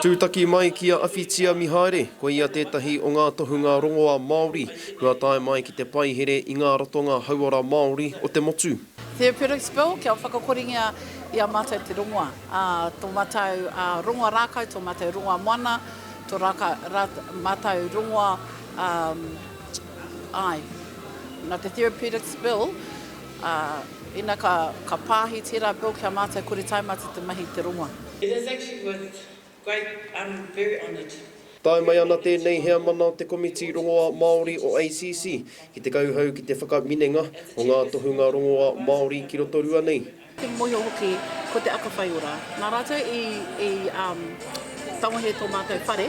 Tūtaki mai ki a Awhitia Mihaere, koia tētahi o ngā tohunga rongoā Māori kua tae mai ki te paihere i ngā ratonga hauora Māori o te motu. Therapeutics Bill kia whakakoringia i a mātou te rongoā, tō mātou rongoā rākau, tō mātou rongoā moana, tō mātou rongoā, āe, nā te Therapeutics Bill, Ā, ina ka, ka pāhi tērā Bill ki a mātou kore tae mā te te mahi i te rongoa. It is actually with great, I'm very honoured. Tae mai ana tēnei heamana o te Komiti Rongoā Māori o ACC ki te kauhau ki te whakaminenga o ngā tohunga rongoā Māori ki Rotorua nei. Te mōhio hoki ko te aka whai ora. Nā rātou i, i, um, tangohia tō mātou whare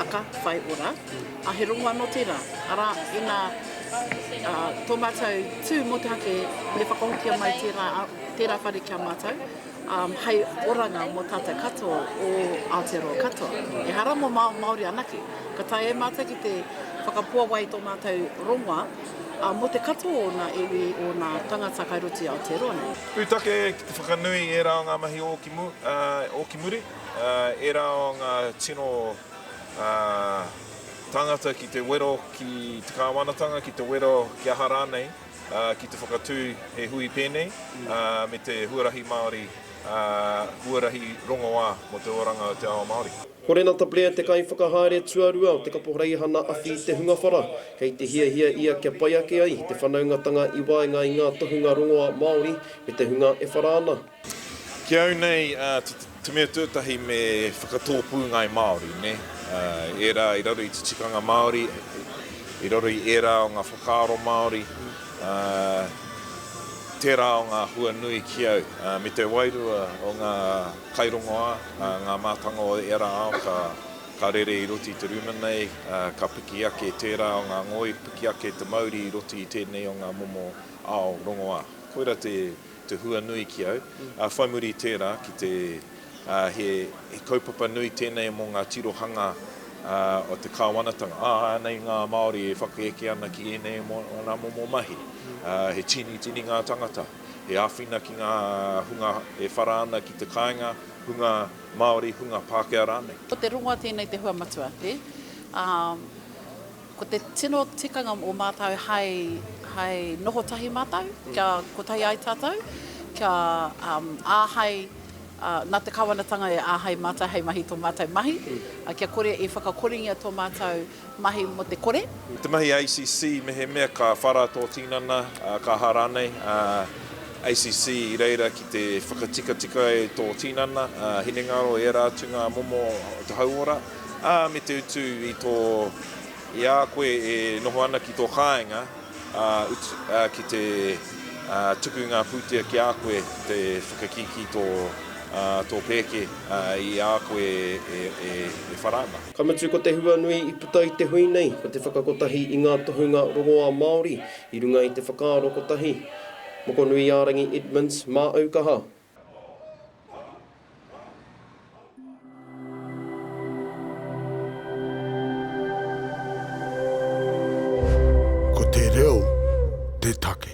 aka whai ora. A he rongo anō tērā, arā, ina tō mātou tū motuhake me whakahokia mai tērā, tērā whare ki a mātou, hei oranga mō tātou katoa o Aotearoa katoa, ehara mō Māori anake. Ka tae e mātou ki te whakapuawai i tō mātou rongoa mō te katoa o ōna iwi, o ōna tangata kai roto i Aotearoa nei. Pūtake ki te whakanui i ērā o ngā mahi ōki muri, ērā o ngā tino. ā, tāngata ki te wero ki te kāwanatanga, ki te wero kia aha rānei, ā, ki te whakatū he hui pēnei, ā, me te huarahi Māori, ā, huarahi rongoā mō te oranga o te ao Māori. Ko Renata Blair te Kaiwhakahaere Tuarua o te Kaporeihana Awhi i te hunga whara, kei te hiahia ia kia pai ake ai te whanaungatanga i waenga i ngā tohunga rongoā Māori me te hunga e whara ana. Ki au nei, te mea tuatahi me whakatōpū ngāi Māori, nē, ērā i raro i te tikanga Māori, i raro i ērā o ngā whakaaro Māori, tērā o ngā hua nui ki au. Me te wairua o ngā kairongoā, ngā mātanga o ērā ao ka rere i roto i te rūma nei, ka piki ake tērā o ngā ngoi, piki ake te mauri i roto i tēnei o ngā momo ao rongoā. Koira te te hua nui ki au, ā, whai muri i tērā, ki te, ā, he, he kaupapa nui tēnei mō ngā tirohanga, ā, o te Kāwanatanga. Ā, ānei ngā Māori e whakaeke ana ki ēnei mō ōna momo mahi. Ā, he tīnitini ngā tāngata, he āwhina ki ngā hunga e whara ana ki te kāinga, hunga Māori, hunga Pākehā rānei. Ko te rongoa tēnei te hua matua, ē, ā. Ko te tino tikanga o mātou hai, hai noho tahi mātou, kia kotahi ai tātou, kia um, āhei, uh, nā te Kawanatanga e āhei mātou hei mahi tō mātou mahi, uh, kia kore e whakakoringia tō mātou mahi mō te kore. Te mahi a ACC mehemea ka whara tō tinana, uh, ka aha rānei, uh, ACC i reira ki te whakatikatika e tō tinana, uh, hinengaro ērā atu ngā momo o te hauora. Ā, me te utu i tō, i a koe e noho ana ki tō kāinga, ā, utu, ā, ki te, ā, tuku ngā pūtea ki a koe, te whakakīkī tō, ā, tō pēke, ā, i a koe e, e, e whara ana. Ka mutu ko te hua nui i puta i te hui nei ko te whakakotahi i ngā tohunga rongoā Māori i runga i te whakaaro kotahi. Mokonuiārangi Edmonds, Māʻaukaha. Ko te reo te take.